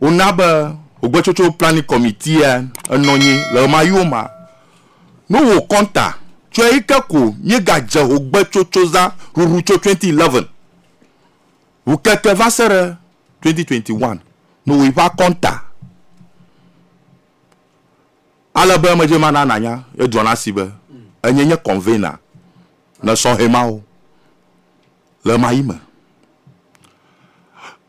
Wona be Ogbetsotso Planning Committee a enɔ nyi le ɣemaɣiwo ma. No wo kɔnta tso eyi ke ko mí ga dze Ogbetsotsoza ŋuŋu tso twenty eleven ŋu keke va se ɖe twenty twenty one no wo yi ƒe akɔnta ale be me dze ma na na nya ye drɔ na si be enye nye convener ne sɔhɛ mawo le ɣemaɣi me.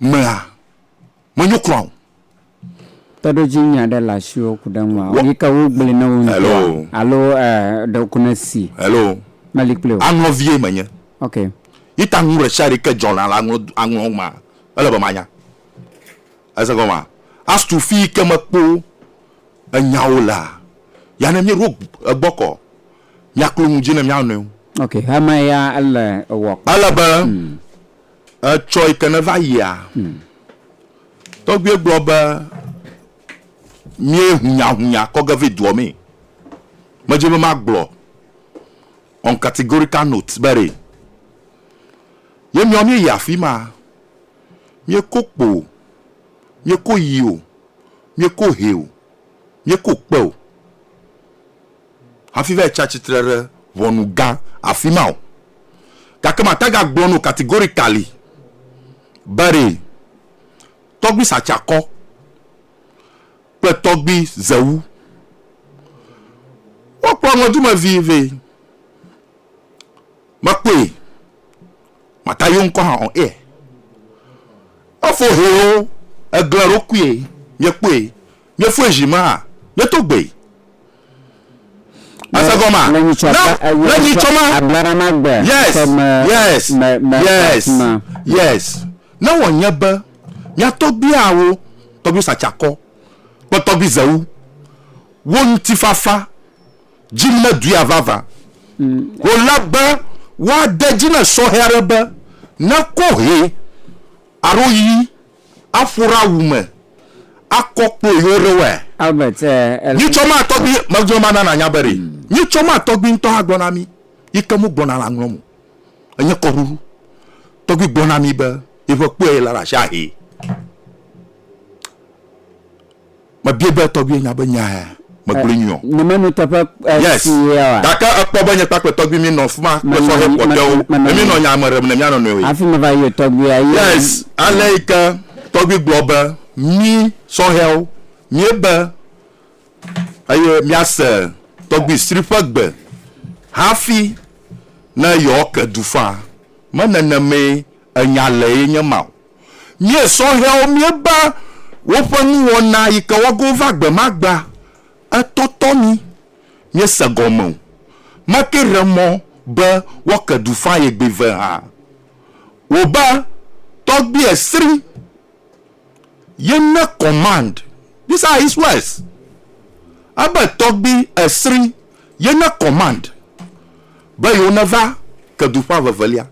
mlɔa, menyo kura o. Kpeɖodzi nya ɖe le asiwò ku ɖe ŋua? Wɔ. Yi ke wogblɔe na wò ŋutɔa? Hello. Alo e, ɖe ko ne si? Hello. Meli kpli o. Aŋlɔ vie menye. Ok. Yi ta nu ɖesiaɖe ke dzɔ na la aŋlɔ, aŋlɔ ma, ele be manya. Ese gɔmea? Astu fi yi ke mekpo enyawo lea, ya ne míeɖo egbɔ kɔ, míaklo nu dzi ne mía nɔewo. Ok, hama ya ele ewɔ kpɔ. Ele be Etsɔ yi ke neva yia, tɔgbuie gblɔ be, Míe hunyahunya kɔ ge ve dua me. Medze be magblɔ on categorical note be re. Ye miɔ mie yi afima, mie ko kpo o, mie ko yi o, mie ko he o, mie ko kpe o. hafi va yi tsi atsitre ɖe ʋɔnu gã afi ma o. Gake mate ŋu agblɔ na wò categorically be ɖee, tɔgbui satsiakɔ kple tɔgbui zewu, wokplɔ ŋɔdzimevi vɛ. Mekpɔe, mate ŋu ayo ŋkɔ hã on air. Efo hɛ wo, egle eɖokui, miekpɔe, miefɔe zi me hã, mieto gbee. Ese gɔma. Le nyitsɔ Na- ba eye le nyitsɔ ma. ablara ma gbe Yes. sɔ me Yes. me me Yes. ma. Yes. Ne wònye be mia tɔgbuiawo, tɔgbui satsakɔ kple tɔgbui zewu, wo ŋutifafa dzim ne duia vava o la be woade dzi ne sɔhɛ aɖe be nekɔ hɛ alo yi Aƒo ɖe awu me akɔ kplo yewo ɖe wɛ. Albert, eh, ele. Nyitsɔ ma tɔgbi megblɔ ma nana nya be ɖe. Nyitsɔ ma tɔgbi ŋutɔ hã gblɔ na mi yi ke mu gbɔna la ŋlɔ mo. Enye kɔɖuɖu. Tɔgbi gblɔ na mi be yi ƒe kpɔe la ɖe asi ahe. Mebia be tɔgbui nya be nya ya megblɔe nyuie o. Nye menu teƒe sie oa? Gake ekpɔ be nye kpakple tɔgbui mi nɔ fima kple sɔhɛ kpɔtɔewo eye mi nɔ nya me ɖem ne mia nɔnɔewoe. Hafi meva yɔ tɔgbuia ye. Yes, aleyike tɔgbui gblɔ be mi sɔhɛwo mie be eye mia se tɔgbui sri ƒe gbe hafi ne yewoake du faa. Me nenemee Enya le ye nye ma o. Mie sɔhɛwo mie ba woƒe nuwɔna yi ke woa go va gbe ma gbea, etɔ tɔ mi. Mie se gɔme o. Ma ke re mɔ be woa ke du fã ye gbe ve hã. Wo ba tɔgbie sri ye ne command this are his words. Abe tɔgbi esri ye ne command be yewo ne va ke du fã vevelia.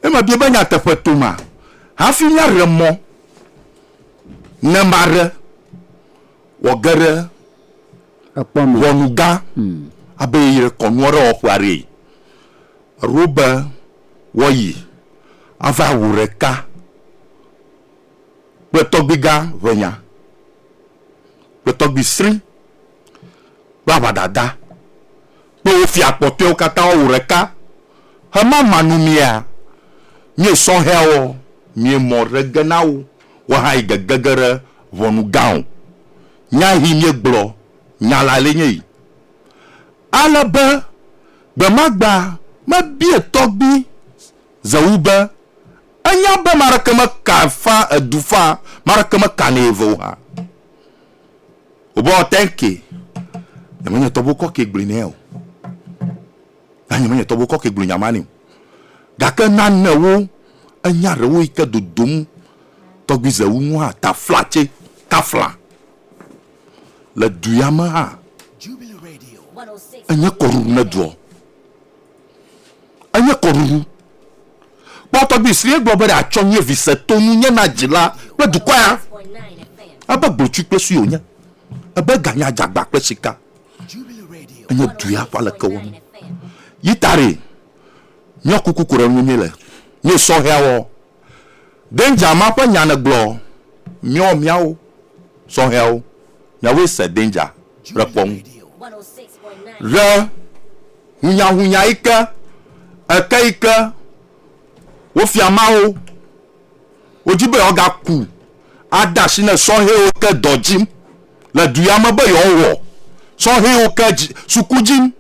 Ne mebia be nyateƒe toma hafi míaɖe mɔ ne maɖe wòage ɖe Ekpɔ me. ʋɔnugã abe yi ɖe kɔnu aɖe wɔƒe aɖee. Eɖo be woayi ava ŋu ɖeka kple tɔgbuigã ʋɛnya kple tɔgbuisri kple aʋadada Kpe wo fia kpɔtɔewo katã woawò ɖeka hemama nu mia? Mie sɔhɛaɔ, mie mɔ ɖe ge na wo, woaha yi gege ge ɖe ʋɔnu gã o. Nya hi mie gblɔ nya la le nye yi. Ale be gbemagba me bie tɔgbi ze wu be, enya be maɖeke me ka fa edu fa, maɖeke me ka nɛ ve o ha. Wobɔ tɛnke. Nyame nye tɔgbu kɔkɔe gblɔe nɛ o. Na nyame nye tɔgbu kɔkɔe gblɔ nya ma nɛ o. Gake nanewo, enya ɖewo yi ke dodom tɔgbi Zewu ŋu hã ta flatse ta fla. Le du ya me hã, enye kɔɖuɖu ne dua. Enye kɔɖuŋu. Kpɔ tɔgbui si egblɔ be ɖeatsɔ nye vi se to ŋunye na dzila kple dukɔ ya. Ebe gblotsu kple sue wònye. Ebe ga nye adzagba kple sika. Enye du ya ƒe alekewɔnu. Yi taɖee. Nyɔ kuku ko ɖe ŋunye le nye sɔhɛa wɔwɔ Danger ma ƒe nya nègblɔ miɔ miawo sɔhɛawo miawoe se danger ɖe kpɔ ŋu ɖe hunyahunya yi ke eke yi ke wofia mawo wodi be yewoga ku ade asi ne sɔhɛwo ke dɔ dzim le du ya me be yewoawɔ sɔhɛwo ke suku dzim.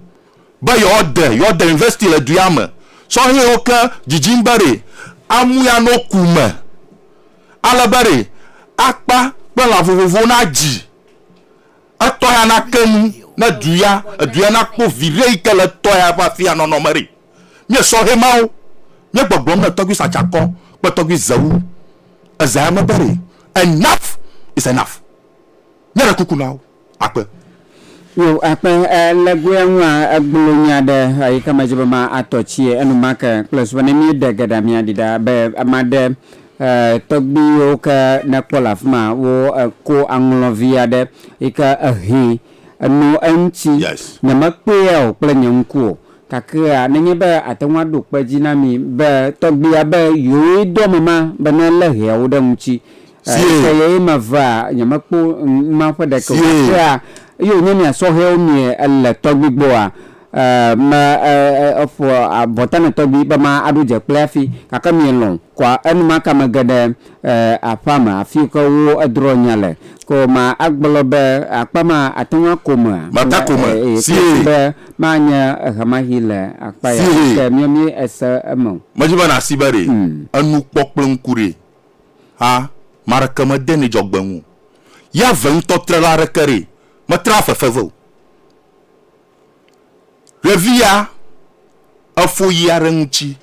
be yewoade yewoade yunivɛsiti le duya me sɔhɛwo ke dzidzim be ɖe amui ano ku me ale be ɖe akpa kple lã vovovowo nadzi etɔ ya nake nu ne duya eduya nakpɔ viɖe yi ke le etɔ ya ƒe afia nɔnɔ me ɖe mie sɔhɛ mawo mie gbɔgblɔm ne tɔgbi satsakɔ kple tɔgbi zewu ezea me be ɖe enough is enough Nye ɖe kuku na wo akpe. Yo akpe e le goea ŋua egblɔ nya ɖe eyi ke me dzi be ma atɔ tsie enumake kple su be ne mi ɖe geɖe mi aɖi ɖa be ma ɖe e tɔgbi yo ke ne kpɔ le afima wo e ko aŋlɔ vi aɖe yi ke ehe eno eŋti yes. nye me kpea o kple nye ŋku o kakea ne nye be ate ŋu aɖo kpe dzi na mi be tɔgbia be yewo ye do ame ma be ne le heawo ɖe ŋti Sie. Eye ye ma vea nye me kpo ma ƒe ɖeke o. Sie. Kea, eye wònye mia sɔhɛwo mie ele tɔgbi gbɔa, e, me, e, e, eƒo abɔta ne tɔgbi be ma aɖo dze kple afi, gake mie lɔ̃ kɔa enumaka me ge ɖe, e, aƒea me afi ke wo edrɔ nya le. Ko ma agblɔ be akpa ma ate ŋu ako mea? Ma ta ko me. E, e, Sie. Kpesi be ma anye ehemahi le akpa ya. Sie. Ke mia mi ese eme o. Medzi be na si be ɖe. Mm. Enu kpɔ kple ŋku ɖee. hã, me aɖeke medenɛ dzɔgbe ŋu o. Yahve ŋutɔ trela aɖeke ɖee, metrela fefe vɛ o. Ɖevia efo yi aɖe ŋuti,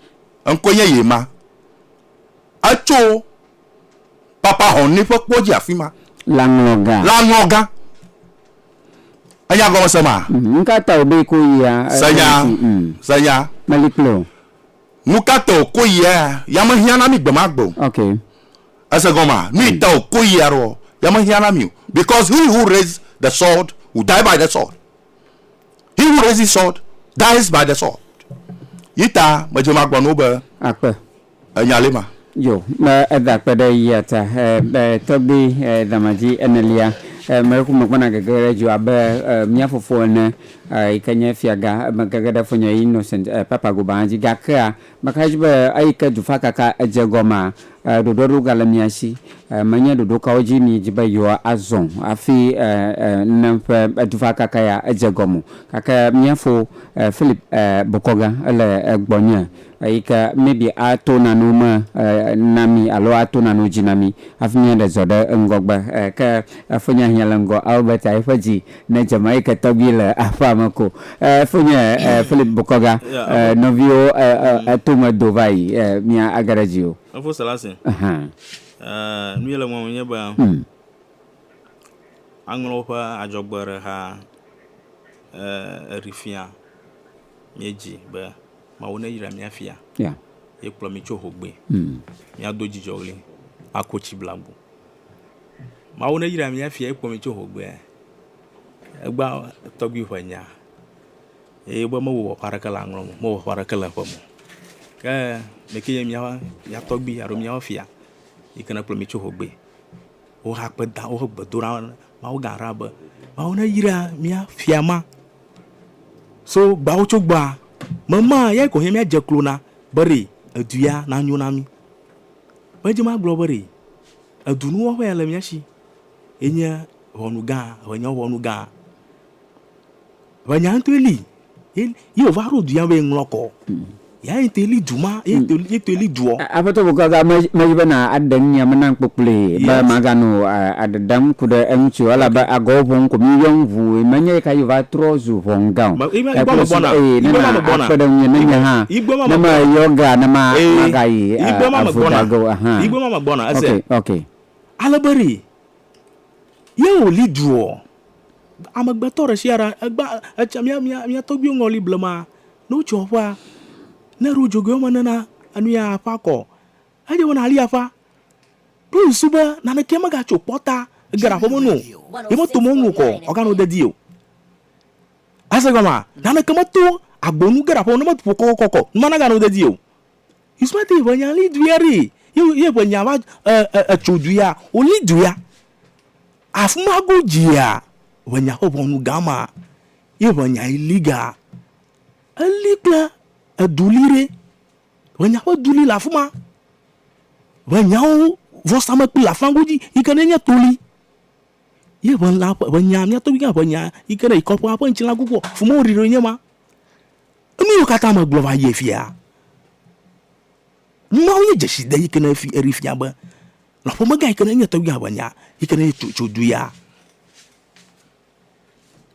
eŋkɔe nye Yema. Etso Papa Hɔnne ƒe kpɔ dzi afi ma. Lãŋlɔga. Lãŋlɔga. Ènya gɔmese maa? Nu ka ta wòbe ko yia? Se nya, se nya. Meli kplɔe o. Nu ka ta o koyi ea? Ya me hiã na mi gbe ma gbe o. Ok. Ese gɔmea? Nu yi ta o koyi ea ɖoɔ, ya me hiã na mi o. Because he who raise the sword will die by the sword. He who raises sword dies by the sword. Yi ta me dze ma gblɔ na wo be, Akpe. Enya li ma. Yo, me eda kpe ɖe yia ta, e, e, tɔgbi, e, damadzi enelia. E, me ku megbɔna gege ɖe dzo abe, e, mía fofo ene, e, yi ke nye fiaga, e, megege ɖe fonye Innocent, e, Papa Gobaã dzi. Gakea, mexae dzi be, eyi ke dufakaka edze gɔmaa, e, ɖoɖoa ɖo gale mía si. E, menye ɖoɖo kawo dzi miedi be yewoa azɔ hafi, e, e, ne ƒe, e, dufakaka ya edze gɔme o. Gake mía fo, e, Philip, e, bokɔga ele, e, gbɔnye. Eyi ke maybe ato nanewo me na mí alo ato nanewo dzi na mí hafi míaɖe zɔ ɖe ŋgɔgbe. Ke efonye ahiã le ŋgɔ Albert a yiƒe dzi ne Jamaica tɔgbi le aƒea me ko. Efonye Philip Bukoga nɔviwo eto me do va yi mía age ɖe dzi o. Efo Selassie, nu yi le ŋua me nye be aŋlɔ woƒe adzɔgbe ɖe xa eɖi fia mía dzi be. Mawu neyra mía fia. Yeah. Ye kplɔ mi tso hogbe. Mm. Míado dzidzɔɣli ako tsi bla agbo. Mawu neyra mía fia ye kplɔ mi tso hogbe. Egba tɔgbi ƒe nya. Eye be mewɔ wɔƒe aɖeke le aŋlɔ me, mewɔ wɔƒe aɖeke le eƒe me. Ke meke nye mía mía tɔgbi alo mía fia yi ke ne kplɔ mi tso hogbe. wohe akpeda wohe gbedoɖa na Mawuga Ra be, Mawu neyra mía fia ma so gbawotsogbɔa me ma, eyae ko hɛ̃ míadze klo na be ɖee edu ya nanyo na mí. Medze eme agblɔ be ɖee edunuwɔƒe ya le mía si ye nye ʋɔnugã, ʋɔnye ʋɔnugã. Vɔ nya ŋtɔe li ye ye wòva ɖo du ya be ŋlɔ kɔ. Ya ye ŋtɔe li du ma ye ŋtɔe li ye ŋtɔe li duɔ. Aƒetɔ bɔkɔ aga me medzi be na aɖe ŋunya me nam kpokploe be Yes. maganɔ a aɖaɖam ku ɖe eŋuti o elabe agɔwo ʋɔm ko mi yɔm ʋu menye ɣi ka ɣi wòva trɔ zu ʋɔn gã o. Me- yi me- yi gbɔ Ekple si megbɔna. eye Yi ne gbɔ na ma megbɔna. akpe ɖe ŋunye ne Yi nye gbɔ- hã yi gbɔ ma ne megbɔna. meyɔ ge a ne ma Ee, magayi yi a gbɔ ma avu megbɔna. dage o ahan. Yi gbɔ ma megbɔna, ese. Ok ok. Ale be ɖe ye wòli duɔ? Amegbetɔ ɖe sia ɖe egba etsa mía mía mía tɔgbuiwo ŋɔli blema. Ne wotso aƒea, ne eɖo dzogoe woame ene na enu ya aƒea kɔ. Edze be nàli aƒea. Ɖo susu be naneke megatso kpɔta ege ɖe aƒeme nu o. Yemeto mɔ nu o kɔ o, wòganɔ dedie o. Ese gɔmea? Naneke meto agbo nu ge ɖe aƒeme ne meto ƒo kɔkɔkɔ kɔ o, nu ma naganɔ dedie o. Ismail ƒe nya li dui aɖe ye ye ƒe nya va e e etso dui ya wo li dui ya afima go dzia ƒe nya ƒe ʋɔnu gã ma ye ƒe nya yi li ga eli kple edu li ɖe ƒe nya ƒe du li le afima ƒe nyawo vɔsamekpli le afima godzi yike ne nye to li ye ƒe la ƒe nya mía tɔgbi gã ƒe nya yike ne yi kɔƒe aƒe ŋtsi la ku kpɔ fima wo ɖi ɖoe nye ma. Enuwo katã megblɔ va yie fia. Numawo nye dzeside yi ke ne fi eɖee fia be le ƒomegã yi ke ne nye tɔgbui ava nya yi ke ne tso tso du ya.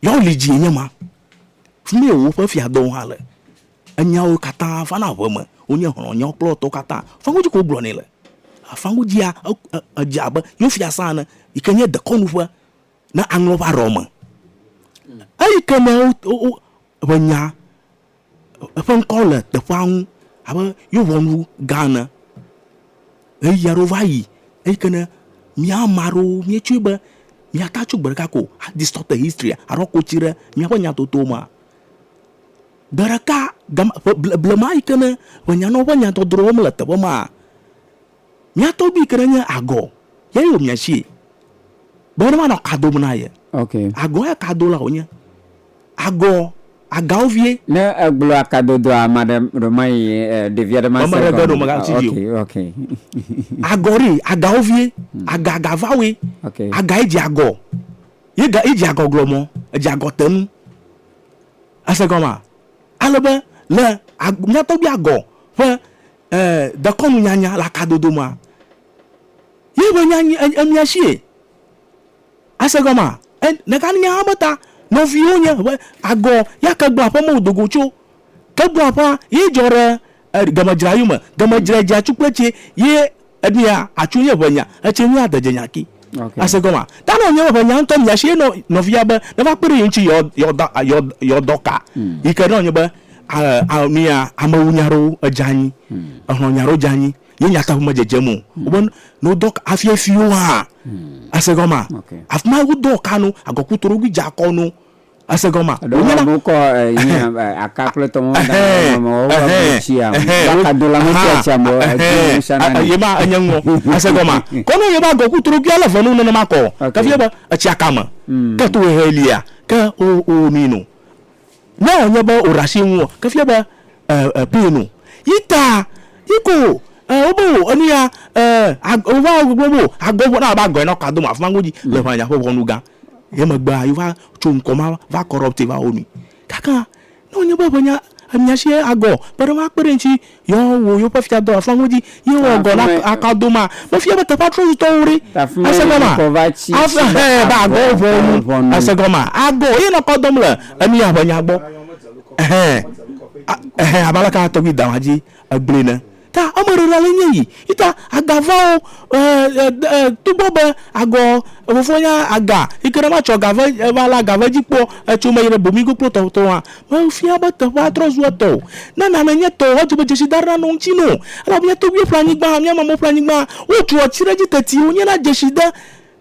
Yawo li dzie nye ma. Fi ma ye woƒe fiadɔwo hã le. Enyawo katã vana ƒe me. Wonye xlɔ nyawo kple etɔwo katã. Fɔa godzi ke wogblɔ nɛ le. Afã godzia e e edze abe yewo fiasã ene yi ke nye dekɔnu ƒe ne aŋlɔ va ɖɔ me. Eyi ke ne wo wo wo ƒe nya eƒe ŋkɔ le teƒea ŋu abe yo ŋɔnu gã ene. Ɣeyiɣi aɖewo va yi eyi ke ne mía ame aɖewo míetsɔe be míate tso gbe ɖeka ko a distort historia aɖo kotsi ɖe míaƒe nya toto mea. Gbe ɖeka gama ƒe ble blema yi ke ne ƒe nyanɔwo ƒe nya dɔdrɔwo mele teƒe mea Mia tɔgbui ke ɖe nye agɔ ye yo mia sie be ne manɔ ka dom na ye. Okay. Agɔ ya ka dola wonye. Agɔ agawo vie. Ne egblɔ aka dodoa ame aɖe ɖo mayi ɖevi aɖe ma se gɔme. Ame ɖe ɖo me ga si dzi o. Okay, okay. Agɔ ɖe agawo vie. Aga aga va we. Okay. Aga ye dze agɔ. Ye ga ye dze agɔ gblɔ mɔ edze agɔ te nu. Ese gɔma. Ale be le mia tɔgbui agɔ ƒe eh, dekɔnu nyanya le akadodo ma. Ye be nya nyi emia sie. Ase gɔma, eh, neka nya ha beta, nɔviwo nye, be agɔ, ya kegba ƒe mɔ dogo tso. Kegba ƒe ye jɔ re, eh, gemedzrayu me, gemedzra dja tsu kple tse, ye. Eɖia atsu nye ʋe nya, etsɛ nye adedze nya ki. Okay. Ase gɔma. Ta no nye ʋe nya ŋutɔ mia shi no nɔvia be ne va kpe ɖe yinchi yɔ yɔ da yɔ yɔ dɔ ka. Hmm. Yi ke no nye be a a mia amewu nya ro edza anyi. Hmm. Ehlo nya ro dza anyi. Ye nya ta ƒe me dzedze mo. Hmm. Oben no dɔ ka afia fi yo ha. Hmm. Ase gɔma. Okay. Afima wo dɔ ka no agɔku toro gui dza kɔ no. Ese gɔmea? Ɖewo Wonye na- amewo kɔ eh, yi, eh, aka kple tɔmɔ da ɖe mɔme, wowa be tsia me. Akadola metsia tsia me, eh, dzi me sana nɛ. yema enye ŋgɔ ase gɔma kɔ ne yema gɔ ku torogbia le venu nenema kɔ Ok. ke vie be etsia kame ke to hehe lia ke o o mi no ne enye be o rasi ŋu ke vie be e e pin no yi ta yi ko e o bo enu ya e a o va gbogbo bo agɔ ŋu na ba gɔe na ka do ma funa ŋu dzi le ʋanya ƒe ʋɔnu gã Ye megbea yeva tso ŋkɔ ma va corrupte va wo nu. Gake ne wonye be eŋe mia si agɔ kpe ɖe woakpe ɖe ŋuti yewoawɔ yewoƒe fia dɔ le afima godzi ye wòagɔ la aka do ma, mefia be teƒea trɔ zu tɔwo ɖe. Ese gɔmea? Afima hã be agɔ ʋɔnu. Ese gɔmea? Agɔ ye nɔ kɔ dɔm le enu ya ƒe nya gbɔ. Ɛhɛ ɛhɛ abe aleke tɔgbui Dawãdzi egblɔe ne. Ta ame ɖe ɖa le nye yi. Ita aga va wo e e e tugbɔ be agɔ efofo nya aga yi ke ne ma tsɔ ga ve eva la ga ve dzi kpɔ etso me yi ɖe bomi go kplo tɔ tɔ wa. Me fia be teƒea trɔ zu etɔ wo. Ne nane nye tɔ wo edze be dzesi da ɖe nane wo ŋtsi no. Elabe mía togbuiwo ƒle anyigba, mía mamewo ƒle anyigba. Wo tso etsi ɖe dzi teti wo nye na dzesi de.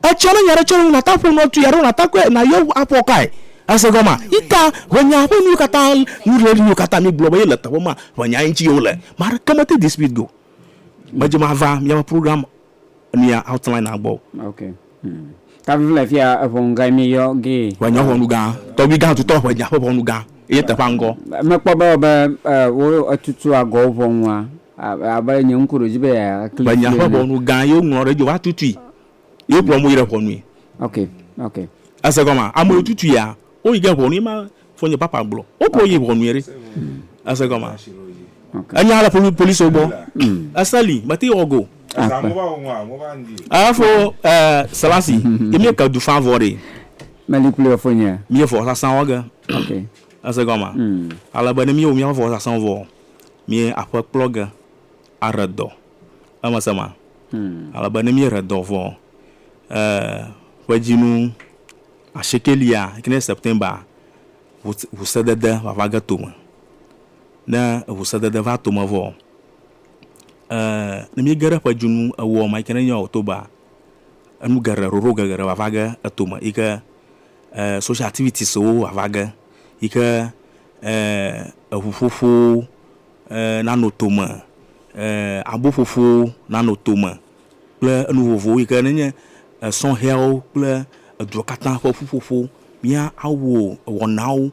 Etsɔ ne nya ɖe tsɔ ɖe ŋu nata ƒo nua tui alo nata kɔe nayɔ ŋu aƒɔ kae. Èse gɔmea? Yi ta ʋe nyaa ƒe nuwo katã nu le nuwo katã mi gblɔ be ye le teƒe ma ʋe nyae ŋuti ye wole. Ame aɖeke mete this week go me dze ma va miaƒe program nia outline na gbɔ o. Ok. Ta vivile fia eʋɔnu gae mi yɔ gee. Ʋe nya ʋɔnu gã. Tɔgbi gã tutɔ ʋe nya ƒe ʋɔnu gã ye teƒea ŋgɔ. Mekpɔ be wo etutu agɔwo ʋɔnua Menya ƒe ʋɔnu gã ye woŋlɔ ɖe edzi o, woatutui ye wokplɔ amewo yi ɖe ʋɔnui. Ese gɔmea? Ame yiwo tutuia, woyi ge ʋɔnui ema Fofonye Papa gblɔ. Wokplɔ wo yi ʋɔnui ɖe. Ese gɔmea? Enya le policiwo gbɔ. Ese li, mete wɔ go o. Efo Selasi, ye mí ke du fã vɔ ɖee. Meli kpli wò Fofonye. Mí ye vɔsasã wɔ ge. Ese gɔmea? Ale be ne mí wɔ míaƒe vɔsasã vɔ, mí aƒe kplɔ ge aɖe dɔ. Emese ma? Ale be ne mí ɖe dɔ vɔ, ƒe dzinu ashiekɛlia yike nye September, ʋu se dede va va ge tome. Ne ʋu se dede va tome vɔ, ne mí ge ɖe ƒe dzinu ewo ma yike nye October, enu geɖe, ɖoɖo geɖe va va ge etome yike social activities wo va va ge yike. eŋuƒoƒowo nanɔ tome, aboƒoƒowo nanɔ tome kple enu vovovowo yi ke ne nye esɔhɛawo kple edua katã ƒe ƒuƒoƒo. Míawɔ wɔnawo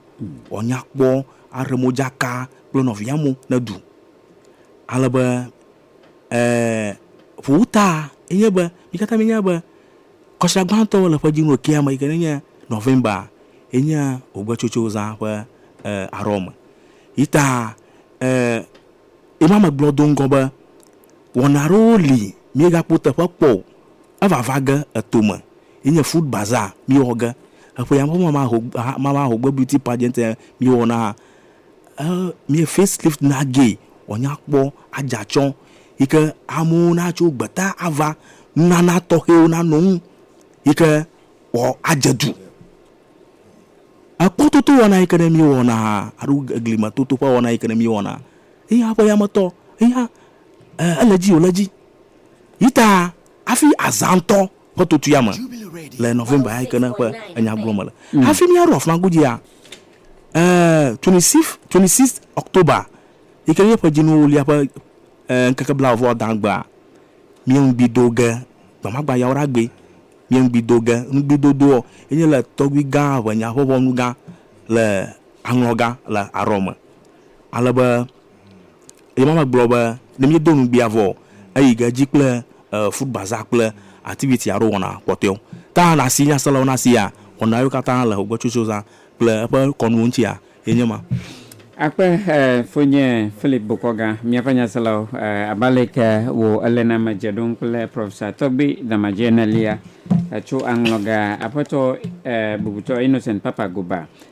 wòanya kpɔ, aɖe modzaka kple nɔviawo ne ɖu. Ale be ƒuta ye nye be, mí katã míenya be. Kɔsia gbãtɔ le ƒe dzinu kea me yi ke nenye November ye nye ogbetsotso zã ƒe arɔ me. Yi ta ema megblɔ do ŋgɔ be wɔna aɖewo li míegakpɔ teƒe kpɔ o. Evava ge eto me yi nye Food Bazaar míewɔ ge. Eƒe ya me ƒe Mama Ho Mama Ho Gbe Beauty Pageant míewɔ na mi face lift na gee wɔ nya kpɔ adza tsɔ yi ke amewo na tso gbeta ava nunana tɔxɛwo na nɔ ŋu yi ke wɔ adze du. Ekpɔ toto wɔna yi ke ne mi wɔ na aɖo egli me toto ƒe wɔna yi ke ne mi wɔ na eya ƒe yame tɔ eya ele dzi o le dzi yi ta afi azã ŋtɔ. Kpɔtotu ya me le November ya yi ke ne ƒe enya gblɔm mele. Mm. Hafi míaɖo afima godzia, eh, 26, 26 October yi ke nye ƒe dzinuwo wulia ƒe eh, ŋkeke bla vɔ da gbea, míeŋgbi do ge gbamagba yawo ɖa gbe. Míeŋgbi do ge ŋgbidodoɔ enye le tɔgbi gã ʋenya ƒe ʋɔnu gã le aŋlɔ gã le arɔ me. Ale be Eye Mama gblɔ be ne míedo ŋugbea vɔ eyi ge dzi kple foot bazaar kple activity alo wɔna kpɔtɔewo. Ta na si nyaselawo na sia wɔna yewo katã le Hogbetsotso zã kple eƒe kɔnuwo ŋutia ye nye ma. Akpe Fonye Philip Bokɔga, míaƒe nyaselawo, abe aleke wò eléname dze ɖom kple Professor Tɔgbi Damadjie Nelia tso aŋlɔga Aƒetɔ bubutɔ Innocent Papa Goba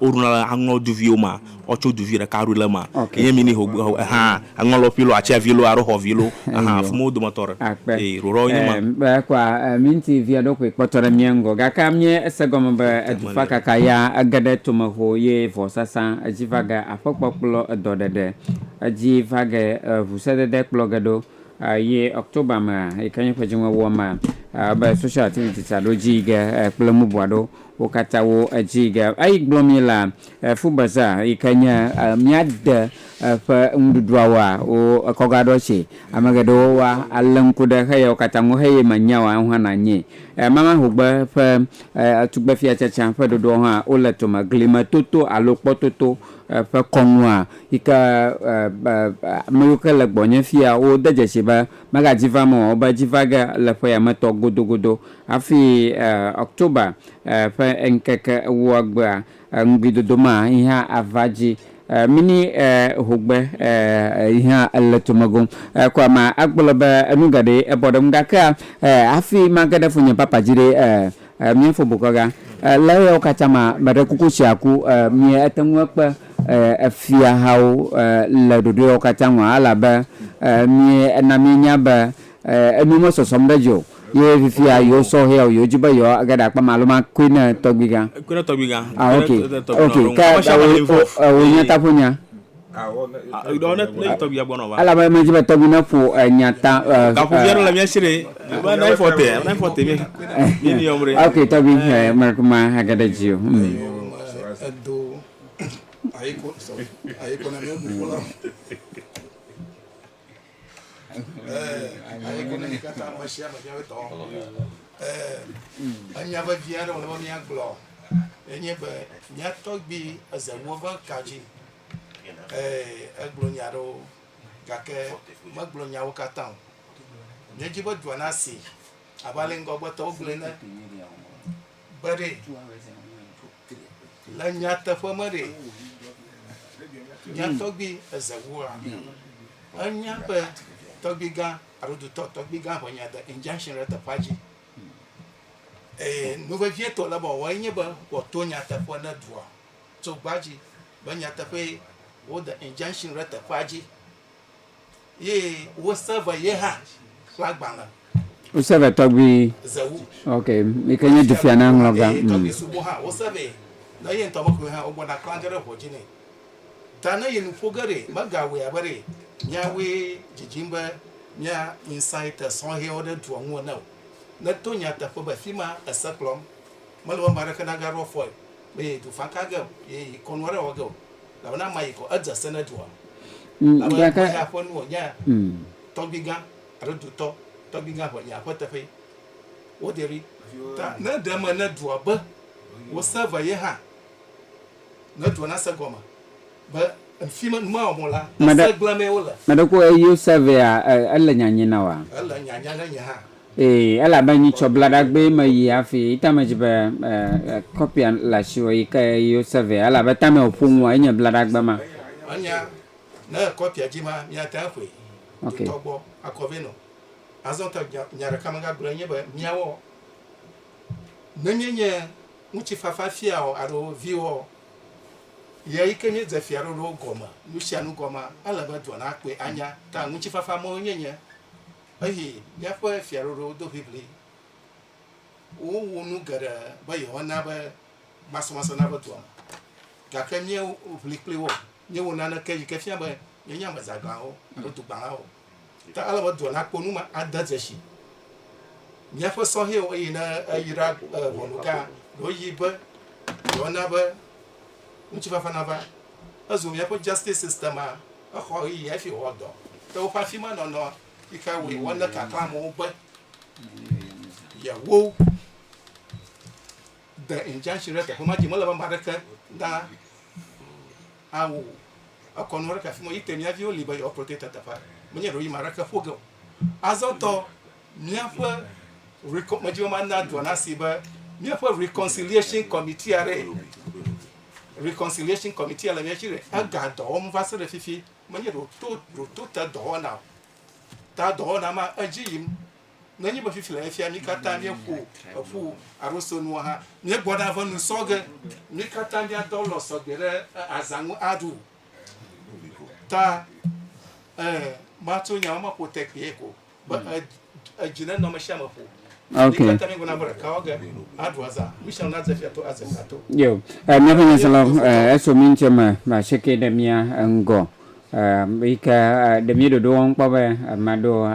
Woɖuna le aŋlɔ duviwo ma, ɔtso duvi ɖeka ɖu le ma. Okay. Nye mi ni ho ha aŋlɔ lo pilo atia vilo aro ho vilo aha fumo do ma tore. Akpe. E roro nye ma. Be kwa minti via do kwe kpɔtɔ ɖe mia ŋgɔ. Gaka mie ese gɔme be edufa kaka ya ege ɖe tome ho ye vɔ sasa edzi va ge aƒe kpɔkplɔ edɔ ɖeɖe. Edzi va ge eŋu se dede kplɔ ge ɖo ye October mea yi ke nye ƒe dzi ŋue woa ma be social activities aɖo dzi yi ge kple mubua ɖo Wo katã wo edzi ge. Eyi gblɔ mí la, food bazaar yi ke nye mía de ƒe nuɖuɖua woa, wo ekɔ ga ɖɔ tse. Ame geɖewo wa ale ŋku ɖe xe ya wo katã ŋu heye me nya wa eŋu hã na nyee. Mama hogbe ƒe tugbefia tsatsa ƒe ɖoɖoawo hã wo le tome. Glime toto alo kpɔ toto ƒe kɔnua yi ke ame yiwo ke le gbɔnye fia wo de dzesi be mega dzi vam o, wo be dzi va ge le ƒe ya me tɔ godogodo. Hafi October ƒe ŋkeke ewoa gbea, ŋugbidodo ma yi hã ava dzi. Mini hogbe yi hã le tome gom. Ko ame agblɔ be enu geɖee ebɔ ɖe ŋu, gake hafi mage ɖe fonye papa dzi ɖe, mía fobokɔga le eyawo katã mea, meɖe kuku tsi aku. Míate ŋu akpe efiahawo le ɖoɖoeawo katã ŋu elabe míena míenya be Enu me sɔsɔm ɖe dzi o ye fifia yewo sɔ hea o yewo dzi be yewo age ɖe akpam alo ma kui ne tɔgbi gã. Kui ne tɔgbi gã. Ah ok ok ke wo nya ta ƒo nya. Ɖɔ ne ne tɔgbi ya gbɔnɔ va. Ela be me dzi be tɔgbi ne ƒo nya ta. Gaƒo via ɖe le mia si ɖe. Be ne fɔ te ne fɔ te mi mi ni yɔm ɖe. Ok tɔgbi me kuma age ɖe dzi o. Edo ayi ko sɔ ayi ko na mi bu fɔ la. Enya vevi aɖe wòle be míagblɔ enye be mía tɔgbi eze ŋuwo ƒe ka dzi. Egblɔ nya aɖewo gake megblɔ nyawo katã o. Míedi be dua nasi abe ale ŋgɔgbetɔwo gblɔe ene be ɖee. Le nyateƒe me ɖe, mía tɔgbi Ezewua enya be tɔgbigã alo dutɔ tɔgbigã ƒe nya de injunction ɖe teƒea dzi. Ee, nu vevietɔ le bɔ wɔe nye be wòato nyateƒe ne dua tso gbadzi be nyateƒee wode injunction ɖe teƒea dzi Ye wo se ve ye ha ƒe agbalẽ. Wo se ve tɔgbi. Zewu. Ok, mi ke nye dufia na ŋlɔ ga. Eye tɔgbi sugbɔ ha wo se ve ne ye ŋutɔ mekɔe ha wo gbɔ na kpla ge ɖe ʋɔ dzi ne. Ta ne yi nu ƒo ge ɖe me ga wɔe abe ɖe mia woe dzidzim be mia insighte sɔhɛwo ɖe dua ŋu ene o. Ne to nya teƒe be fima ese kplɔm. Mele be ame aɖeke na ga ɖɔ fɔe. Be ye du fa ka ge o, ye yi kɔnu aɖe wɔ ge o, elabena ama yi kɔ, edze se ne dua. Elabe ƒe ya ƒe nu wònye tɔgbuigã alo dutɔ tɔgbuigã ƒe ya ƒe teƒee. Woderi ta ne ɖe eme ne dua be wose ve ye hã, ne dua nase gɔme. Meɖe ko eye yo sɛvɛa ele nyanyi na wa? Ee, elabe nyi tsɔ blaɖagbee me yi afi yi tame dzi be kɔpia le ashi wɔ yi ke eye yo sɛvɛa elabe tame o ƒo ŋua enye blaɖagbe ma. Ok. Ye yi ke míedze fiaɖoɖowo gɔme nusianu gɔmea, ele be dua nakpɔe anya ta ŋutifafa mɔe nye nye eye míaƒe fiaɖoɖowo do ʋiʋli. Wowu nu geɖe be yewoana be masɔmasɔ nava dua me, gake míeʋli kpli wo, míewu naneke yi ke fia be míenye ame zãgãwo alo dugbalãwo o. Ta ele be dua nakpɔ nu ma ade dzesi míaƒe sɔhɛwo eye ne eyra ʋɔnuga ɖewo yi be yewoana be ŋutifafa nava. Ezu míaƒe justice system a exɔ ɣeyiɣi hafi wɔ dɔ. Ke woƒe afi ma nɔnɔ yi ke wɔe woane kakla amewo be yewo de injunction ɖe teƒe ma dzi. Mele be ame aɖeke na. Ao, ekɔ nu aɖeke afi ma yi te mía viwo li be yewoakplɔ te ta teƒea. Menye ɖoɖoyame aɖeke ƒo ge o. Azɔtɔ, míaƒe recon, medzi be mana dua nasi be míaƒe reconciliation committee aɖee. Reconciliation committee le mía si ɖe ega dɔ wɔm va se ɖe fifi. Menye ɖoto, ɖoto te dɔwɔna o. Ta dɔwɔna ma edzi yim nenye be fifia efia mi katã míeƒo eƒu alo so nua hã míegbɔ ɖa ƒe nu sɔ ge mi katã míadɔ lɔ sɔgbe ɖe azã ŋu aɖu ta matso nya ma ƒo tekpee ko be edzi ne nɔme sia me ƒo Okay. Yo, eh, miaƒe nyaselawo eh, eso mi ŋutse me, maseke ɖe mia ŋgɔ. Yi ke ɖe mí ɖoɖo wɔm kpɔ be ame aɖewo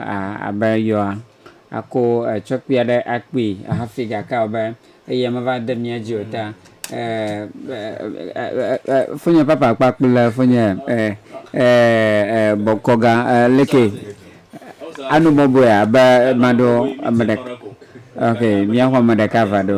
abe yewoa ako tsɔkpui aɖe akpui hafi gake abe eya meva de mía dzi o ta. Fonye papa kpakple le fonye bɔkɔga leke anu bɔbɔe abe maɖo ame ɖeka. Ok, mía xɔ ame ɖeka va ɖo.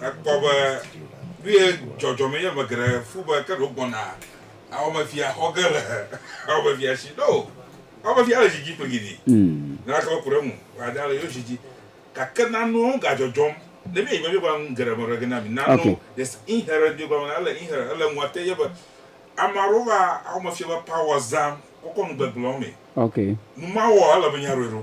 Ekpɔ be nu ye dzɔdzɔ me ye ame geɖe fu be ke ɖe wogbɔna Awɔmefia xɔ ge le Awɔmefia si. Ɖo Awɔmefia le zi dzi kpliŋiɖi. Naneke meku ɖe eŋu o, aɖe le yewo zi dzi. Gake nanewo gadzɔdzɔm. Ne míeyi Biblia me la, nu geɖe me ɖe ge na mi. Nanewo, there's inherent Biblia me la, ele inherent, ele ŋua te ye be ame aɖewo va Awɔmefia ƒe power zãm kɔkɔ nu gbegblẽwo mee. Nu mawɔ ele be míaɖɔe ɖo.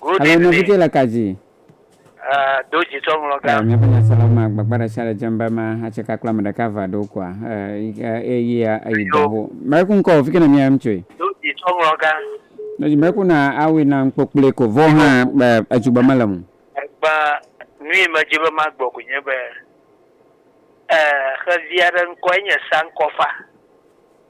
Good Alo evening. nɔvi dze le ka dzi? Eh, do dzi tsɔ ŋlɔ ga. Eh, míaƒe nyaselawo ma gbagba ɖe sia ɖe dzem be ma atse ka kple ame ɖeka va ɖo koa. Eh, eh, eyia eyi dɔ ho. Mɛku ŋkɔ o, fi ke ne mia em tsoe. Do dzi tsɔ ŋlɔ ga. No dzi mɛku na awui na ŋkpɔ kpli ko vɔ hã be eju be mele mu. Egba nui me dzi be ma gbɔ ko nye be eh, xevi aɖe ŋkɔe nye Sankɔfa.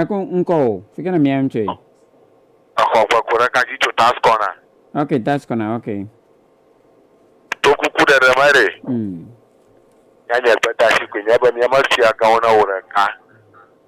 Eko ŋkɔ o. Fi ke ne mia ŋu tsoe. Exɔ ƒe ko ɖeka dzi tso task corner. Ok, task corner, ok. To kuku ɖeɖe me ɖe. Mm. Nye nye gbedasi koe nye be mía me fiagawo na wò ɖeka.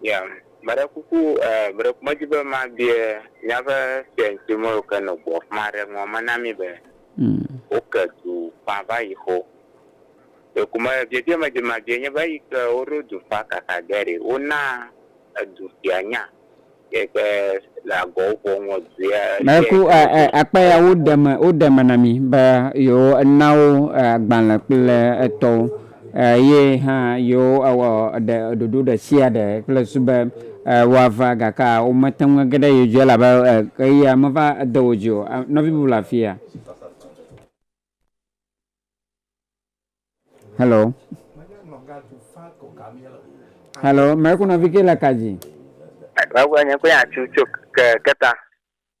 Ya, meɖe kuku eh, meɖe kuku medzi be mabie miaƒe fiaŋti mewo ke nɔ gbɔ fima aɖe ŋua me na mi be woke du fã va yi xo. Ɖe ku me biebie medzi mabie nye be eyi ke woɖo du fã kaka ge ɖe wona edu fia nya ye ke le agɔwo ƒo ŋɔ du ya. Meɖe ku eh, eh, akpa ya woɖe me, woɖe me na mi be yewo nawo eh, agbalẽ kple etɔwo. Eye hã yewowɔ ɖe ɖoɖo ɖe sia ɖe kple su be woava, gake womete ŋu age ɖe yewo dzi o, elabe ɣeyiɣia meva de wo dzi o. Nɔvi bubu le afia? Halo? Halo? Mɛ ku nɔvi ke le ka dzi? Mɛ ku nye ku nya tsu tso ke keta.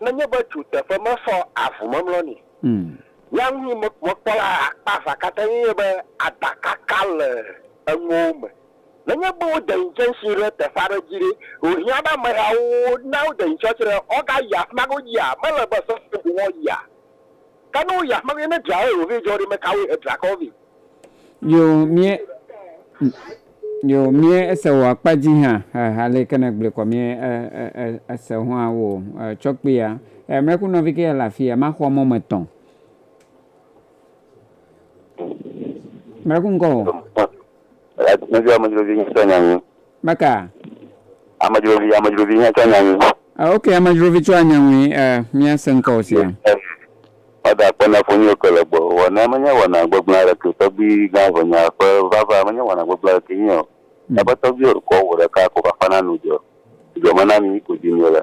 Nenye be tu teƒe mesɔ avu memlɔ nɛ ya ŋu yi mekpɔ la akpa avea katã enye be adakaka le enuwo me. Nenye be wode ŋtsɛnsi ɖe teƒe aɖe dzi ɖe, wohiã be amehawo na wode ŋtsɔtsi ɖe, wogayi afima godzi a? Mele be sesẽ ko woayia. Kano ya me ne dra eo ve jɔ ɖe me kawo he dra kɔ ve. Yo mie yo mie ese wo akpa ji ha ha ha le kene gble kɔ mie e e e ese ho a wo e tsɔ kpe ya e mle ku nɔvi ke ya la fi ya ma xɔ mɔ me tɔ mle ku ŋkɔ wo. Amedzrovi, amedzrovi hã tsɔ nya nyui. Meka. Amedzrovi, amedzrovi hã tsɔ nya nyui. Ah, ok, amedzrovi tsɔ anya nyui. Uh, eh, míase ŋkɔ wò sia. Mada akpɔ na fonyo ke le gbɔ. Wɔna menye wɔna gbegblẽ aɖeke. Tɔgbui gã ʋenya ƒe vava menye wɔna gbegblẽ aɖeke nye o. Eƒe hmm. tɔgbui kɔ wò ɖeka ko vafana nu dzɔ. Dzɔ mena mi ko dzi mi le.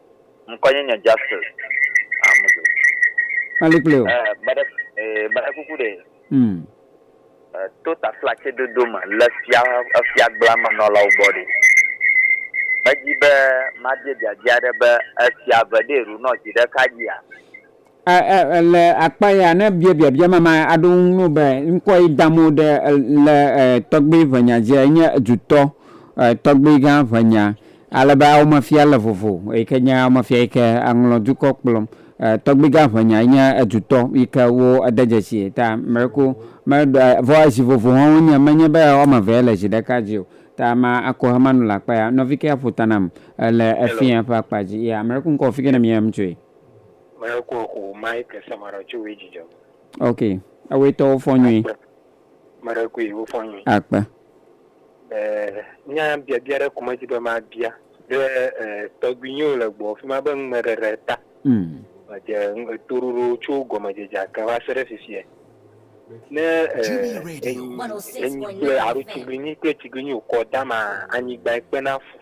Ŋkɔ nye nye Justice Amuzu. Mali kple o. Eh, bade, eh, bade kuku ɖe. Mm. Eh, to taflatse dodo me le fia, efia gbla me nɔlawo gbɔ ɖe. Medzi be mabie biabia ɖe be efia ve ɖe ru nɔ zi ɖeka dzia? Le akpa ya, ne bia biabia ma, ma aɖo ŋu no be ŋkɔ yi dam wo ɖe le tɔgbi ʋenya dzi enye dutɔ tɔgbi gã ʋenya. Ale be awome fia le vovo yi ke nye awome fia yi ke aŋlɔ dukɔ kplɔm. Tɔgbi gã ʋenya yi nye dutɔ yi ke wo ede dzesi ta meko me ɖe vɔ zi vovo hã wo nye menye be wɔme eve le zi ɖeka dzi o. Ta ma ako hama nu le akpa ya. Nɔvi ke aƒo ta nam le efia ƒe akpa dzi ya. Ame ɖe ku ŋkɔ fike ne mia ŋtsoe. Maya ko eku Mike Samarɔ tso we dzidzɔ. Ok, ewe tɔ wo fɔ nyui. Mɛɖe kui wo fɔ nyui. Akpe. Eh, nya biabia ɖe kuma dzi be ma bia. Ɖe eh, tɔgbi nyo le gbɔ fi ma be ŋmɛ ɖe ɖe ta. Mm. Edze eto ɖoɖo tso gɔme dze dza ke va se ɖe fifie. Ne eh, enyi, enyi kple aro tsiglinyi kple tsiglinyi okɔ dama anyigba ekpe na fu.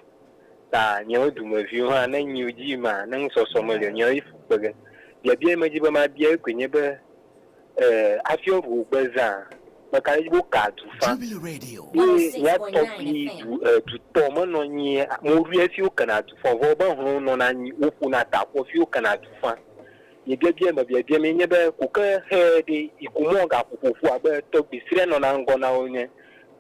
ta nyewo dumeviwo hã ne nyiwo dzi ma ne ŋusɔsɔ meli o nyewo yi fu kpe ge biabia yi medzi be ma bia yi koe nye be e afiɔ ru gbe zã me ka ɖedzi be wo ka du fa ye ya tɔgbi du e du tɔ me nɔ nyi mo ru ye fi wo kena du fa vɔ be hlɔn nɔ na nyi wo ƒo na ta kɔ fi wo kena du fa ye biabia yi me biabia mi nye be ko ke xe ɖe yi ko mɔ ga ƒoƒoƒo abe tɔgbi srɛ nɔ na ŋgɔ na wo nye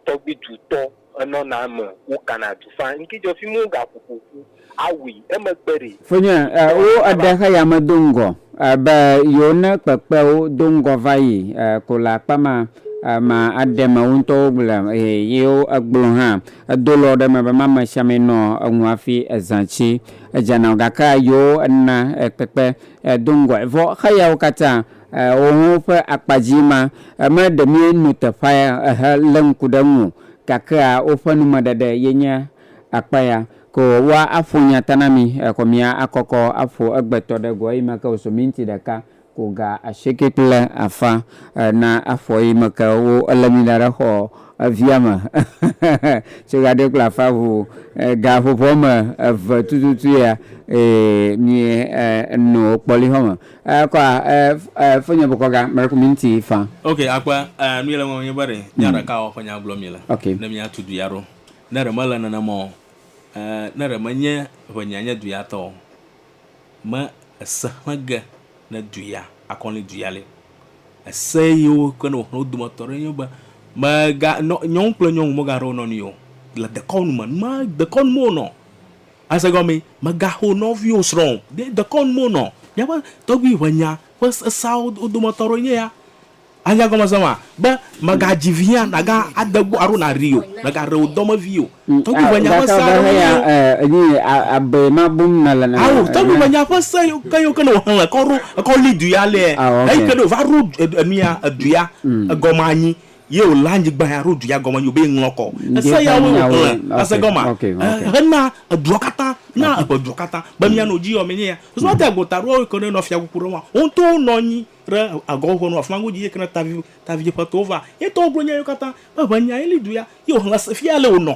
tɔgbi du tɔ. Enɔna eme, wokana du faa. Ŋkedzɔ fi mu ga ƒoƒo ƒu awui emegbe ɖe. Fonye, e, wo eɖe xe ya me do ŋgɔ, e, be yewo ne kpekpe wo do ŋgɔ va yi, e, ko le akpa ma, e, ma aɖe me wo ŋutɔwo gble, e, yewo egblɔ hã, edo lɔ ɖe me be ma me sia me nɔ eŋu afi ezã tsi edza na wo. Gake yewo ena, e, kpekpe, e, do ŋgɔe. Vɔ xe yawo katã Eoh ho ƒe akpa dzi ma, eme ɖe mie nu teƒa ya ehe le ŋku ɖe ŋu o, gakea woƒe numeɖeɖe ye nye akpa ya. Ko woa aƒo nya ta na mi, exɔ mia akɔkɔ aƒo egbe tɔ ɖe go eyi me ke wo so minti ɖeka ku ga ashieke kple afã na aƒo eyi me ke wo ele mi da ɖe xɔ via me tso ga ɖe kple afã ŋu ga ƒoƒo ame eve tututu ya eye mie nu kpɔli xɔ me. Eh, kwa, eh, eh, fonye bokɔ ga, mreko minti fa. Ok, akpa, eh, nu yele ŋɔ nye be ɖe, nya hmm. ɖeka wɔ ƒe nya gblɔ mi le. Ok. Ne mi atu duya ɖo. Ne ɖe mele nene mɔ, eh, ne ɖe me nye ʋe nya nye duya tɔ, me ese hle ge ne duya, akɔni duya le. Ese yiwo ke ne wohle wodome tɔ ɖe nye be, me ga, nyɔnu kple nyɔnu me ga ɖe wonɔ ni yo. Le dekɔnu me, ma dekɔnu me wonɔ. Ase gɔmee, Mègaxo nɔviwò srɔ̃ o. Ɖe dekɔnu me wonɔ? Míaƒe tɔgbuiʋenya ƒe sesawo dometɔ aɖewoe nye ya. Anya egɔmesese maa? Be, Mègadzi vi hã nàga ade gbɔ alo nàɖii o. Mègaɖe wò dɔme vi o. Tɔgbuiʋenya ƒe se aɖewoe nye yewo. Ao, tɔgbuiʋenya ƒe se ke yewo ke ne wòxlẽ kɔ ɖo ekɔ li du ya alea, eyi ke ne wòva ɖo nu ya, edu ya, egɔme anyi Ye wòlé anyigba ya ɖo du ya gɔme yio be ŋlɔ kɔ ese yawoe wòxlẽ ese gɔma hena edua katã na eƒe dua katã be mianɔ edzi yio amenye ya. Zua de agbo taɖoa woe ke ne nɔ fiakuku ɖe ŋua wo ŋutɔwo nɔ anyi ɖe agɔwo ƒe nu afima godzi ye ke ne tavi tavi ƒe towo va ye ŋutɔwo gblɔ nya yio katã be ʋe nya ye li du ya ye wòxlẽ ese fia ale wònɔ.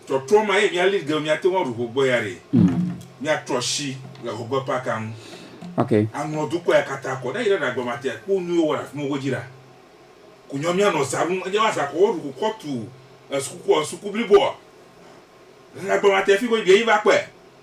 Trɔtrɔ ma ye mía lead girl mía teŋu aɖu ho gbɔ ya ɖe mía trɔ asi le ho gbe parka ŋu aŋlɔ dukɔ ya kata kɔ ne yi ɖe ɖa gbe mate akpɔ nuyi wowɔ le afima wo dzi ɖa ku nyɔ mía nɔ za ɖum edze azã kɔ wo ɖu ku kɔ tu esukukua esuku bliboa le ɖa gbe mate fiko yi ɖe yi va kpɔe.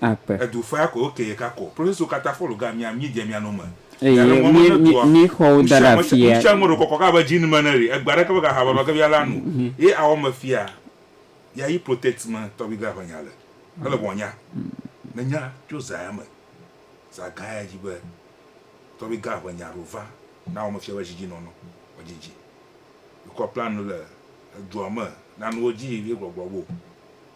akpe. Edu faya koe wokee ka kɔ. Proseso kata fɔlu ga mia mie dze mia no me. Eye Yale mɔ mie me ne mie dua. mie xɔ wo da ɖe Nusiamɔsɛ afia. nusiamɔ ɖo kɔkɔ ka be djinn me ne ri egbe aɖeke be ga ha baba ke via la nu. Ye awɔ me fia ya yi protect me tɔgbi ga ƒe nya le. Ele bɔ nya. Me nya tso za ya me. Za ga ya dji be tɔgbi ga ƒe nya ɖo va na awɔ me fia be djidji nɔnɔ me djidji. Yikɔ plan nu le edua me na nuwo dji ye gbɔgblɔ bo.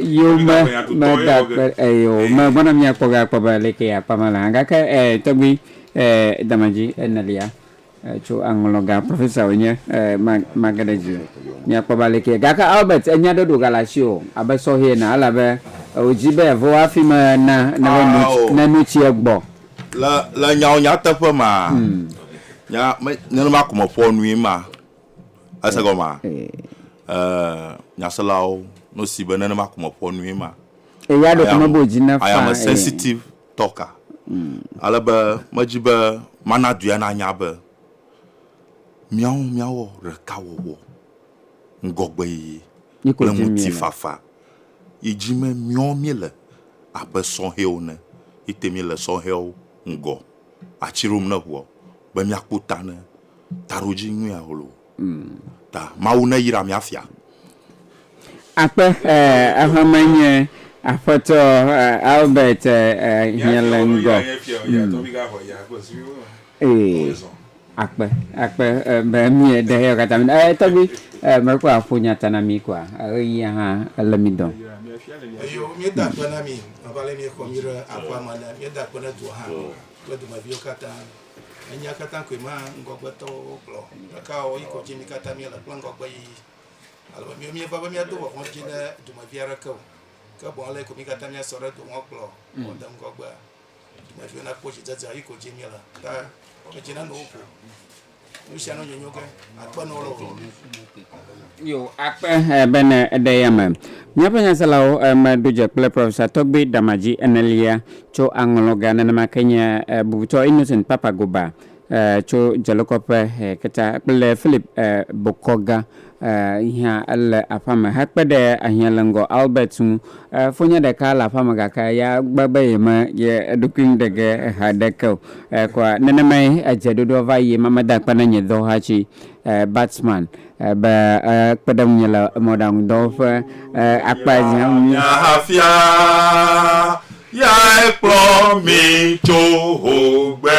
yome medakpe eye o megbɔna miakpɔ be akpɔ be leke yakpɔ me la gake eh, tɔgbi eh, damadzi enelia eh, tso aŋlɔga profesa wònye eh, mage ɖe dzi miakpɔ be leke gake Albert enya ɖe ɖoga le asi o abe sɔhɛ ena elabe wòdzi be yevo hafi me na ne nu tsi egbɔ le nyawo nyateƒe ma hmm. nenema ko meƒɔ nui ma Ese gɔmea? Ee, nyaselawo no si be nenema ko meƒoa nue ma. Eya ɖeko mebe wòdzi ne faa. I am a sensitive talker. Ale be medzi be mana dua nanya be míawo míawɔ ɖekawɔwɔ, ŋgɔgbeyiyi kple ŋutifafa yi dzi me míawo míele abe sɔhɛwo ene yi te míele sɔhɛwo ŋgɔ atsi ɖom ne ŋua be míakpɔ ta ne Taɖodzi nyui ahlo ta. Mawu neyra mia fia. Akpe exɔme nye Aƒetɔ Albert Hielengɔ. Akpe akpe be mie ɖe eya kata mi. Eh tɔgbi eh me kɔ aƒo nya ta na mi kɔa eh yi aha ele mi dɔn. Eyo mi da akpe na mi. Ava le mi xɔ mi re aƒa ma ne mi da akpe ne dua ha. Kple dome viwo kata. Enyia katã koe ma ŋgɔgbetɔwo gblɔ. Ɖeka o, yi ko dzi mi katã miele kple ŋgɔgbeyiyi. Ale be miwo mieva be miado vɔvɔ̃ dzi ɖe dumevi aɖeke o, ke boŋ ale yi ko mi katã miasɔ ɖe do ŋɔkplɔ ŋu de ŋgɔgbea. Dumeviwo nakpɔ dzidzedzea, yi ko dzi miele. Ta wɔmedzinanowo ƒo nu sia nu nyonyo ge. Yo, akpe eh, bene eɖe ya me. Míaƒe nyaselawo eh, meɖo dze kple Professor Tɔgbe Damadzi enelia tso aŋlɔ ga nenema ke nye eh, bubutɔ Innocent Papagoba eh, tso dzelokɔƒe eh, keta kple Philip eh, Bokɔga eh, yi hã ele aƒea me hekpe ɖe ahiãleŋgɔ Albert ŋu E, fonye ɖeka le aƒea me gake ya gbe be yeme ye eɖokui ŋu ɖe ge ha ɖe ke o. E, kɔa nenemae edze ɖoɖoa va yi ema meda akpe na nye dɔwɔhatsi e, Batman e, be e, kpe ɖe ŋunye le mɔɖaŋudɔ ƒe e, akpa dzi hã ŋu. Nya hafia, yae kplɔ mi tso hogbe.